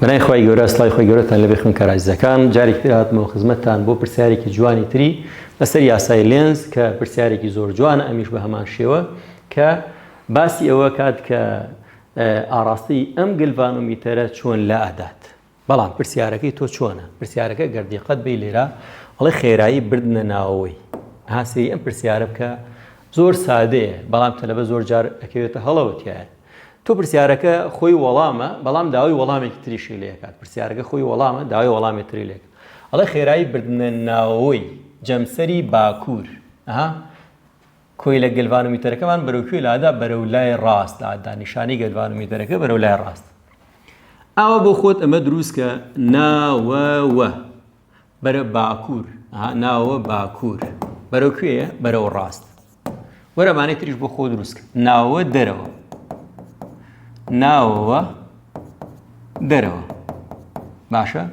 بەناوی خوای گەورە سڵاوی خۆی گەورەتان لێبێ خوێنکارە ئازیزەکان جارێکی تر هاتمەوە خزمەتتان بۆ پرسیارێکی جوانی تری لەسەر یاسای لێنز کە پرسیارێکی زۆر جوانە ئەمیش بە هەمان شێوە کە باسی ئەوە کات کە ئاڕاستەی ئەم گلڤانۆمیتەرە چۆن لا ئەدات بەڵام پرسیارەکەی تۆ چۆنە پرسیارەکە گەردیقەت بی لێرە ئەڵێ خێرایی بردنە ناوەوەی هاسری ئەم پرسیارە بکە زۆر سادەیە بەڵام تەلەبە زۆر جار ئەکەوێتە هەڵەوەتیایە تۆ پرسیارەکە خۆی وەڵامە بەڵام داوای وەڵامێکی تریشی لێ ئەکات پرسیارەکە خۆی وەڵامە داوای وەڵامێ تری لێ ئەکات ئەڵێ خێرایی بردنە ناوەوەی جەمسەری باکوور ئەها کۆیلە گەلڤانۆمیتەرەکەمان بەرەو کوێ لادا بەرەو لای ڕاست لادا نیشانی گەلڤانۆمیتەرەکە بەرەو لای ڕاست ئاوە بۆ خۆت ئەمە دروستکە ناوەوە بەرە باکوور ها ناوە باکوور بەرەو کوێە بەرەو ڕاست وەرەمانەی تریش بۆ خۆ دروستکە ناوە دەرەوە ناوەوە دەرەوە باشە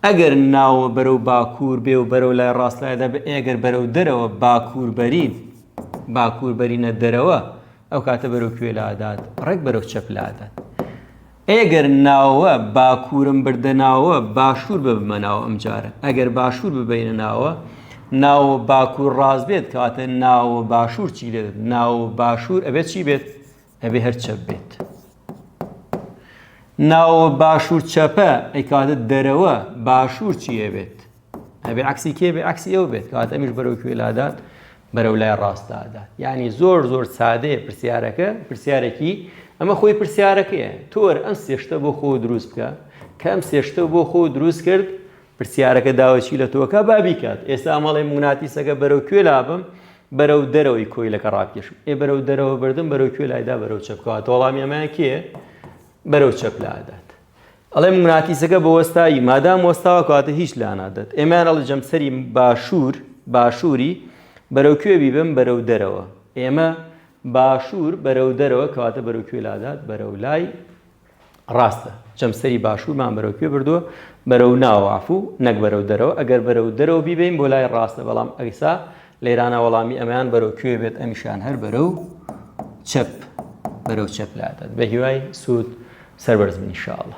ئەگەر ناوە بەرەو باکوور بێ و بەرەو لای ڕاستایدا بە ئێگەر بەرەو دەرەوە باکوور بەرین باکوور بەرینە دەرەوە ئەو کاتە بەرەو کوێ لادات ڕێک بەرەو چەپ لادات ئێگەر ناوە باکورم بردە ناوە باشور ببمە ناوە ئەمجارە ئەگەر باشور ببەینە ناوە ناوە باکور ڕاست بێت کەواتە ناوە باشور چی لێت ناوە باشور ئەبێت چی بێت ئەبێ هەر چەپ بێت ناوە باشور چەپە ئەیکاتە دەرەوە باشور چیە بێت ئەبێ عکسی کێ بێ عکسی ئەو بێت کەوات ئەمیش بەرەو کوێ لادات بەرەو لای ڕاستدادات یعنی زۆر زۆر سادەیە پرسیارەکە پرسیارێکی ئەمە خۆی پرسیارەکەیە تۆر ئەم سێشتە بۆ خۆ دروست بکە کە ئەم سێشتە بۆ خۆ دروست کرد پرسیارەکە داوەچی لە تۆکە بابیکات ئێستا مەڵێ موناتیسەکە بەرەو کوێ لابم بەرەو دەرەوەی کۆی لەکە ڕاکێشم ئێ بەرەو دەرەوە بردم بەرەو کوێ لایدا بەرەو چەپکەوە تۆڵامی ئەمەیان کێ بەرەو چەپ لادات ئەڵێ مگناتیسەکە بە وەستایی مادام وەستاوە کەواتە هیچ لانادات ئێمەیان ئەڵێ جەمسەری باشوور باشووری بەرەو کوێ بیبم بەرەو دەرەوە ئێمە باشوور بەرەو دەرەوە کەواتە بەرەو کوێ لادات بەرەو لای ڕاستە جەمسەری باشوورمان بەرەو کوێ بردووە بەرەو ناوەعفو نەک بەرەو دەرەوە ئەگەر بەرەو دەرەوە بیبین بۆ لای ڕاستە بەڵام ئەیسا لێرانە وەڵامی ئەمەیان بەرەو کوێ بێت ئەمیشان هەر بەرەو چەپ بەرەو چەپ لادات بە هیوای سوود سەربەرز بن شاءڵە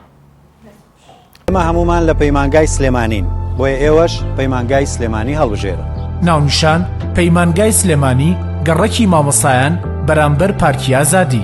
ئێمە هەمومان لە پەیمانگای سلێمانین بۆیە ئێوەش پەیمانگای سلێمانی هەڵبژێرن ناونیشان پەیمانگای سلێمانی گەڕەکی مامۆسایان بەرامبەر پارکی ئازادی.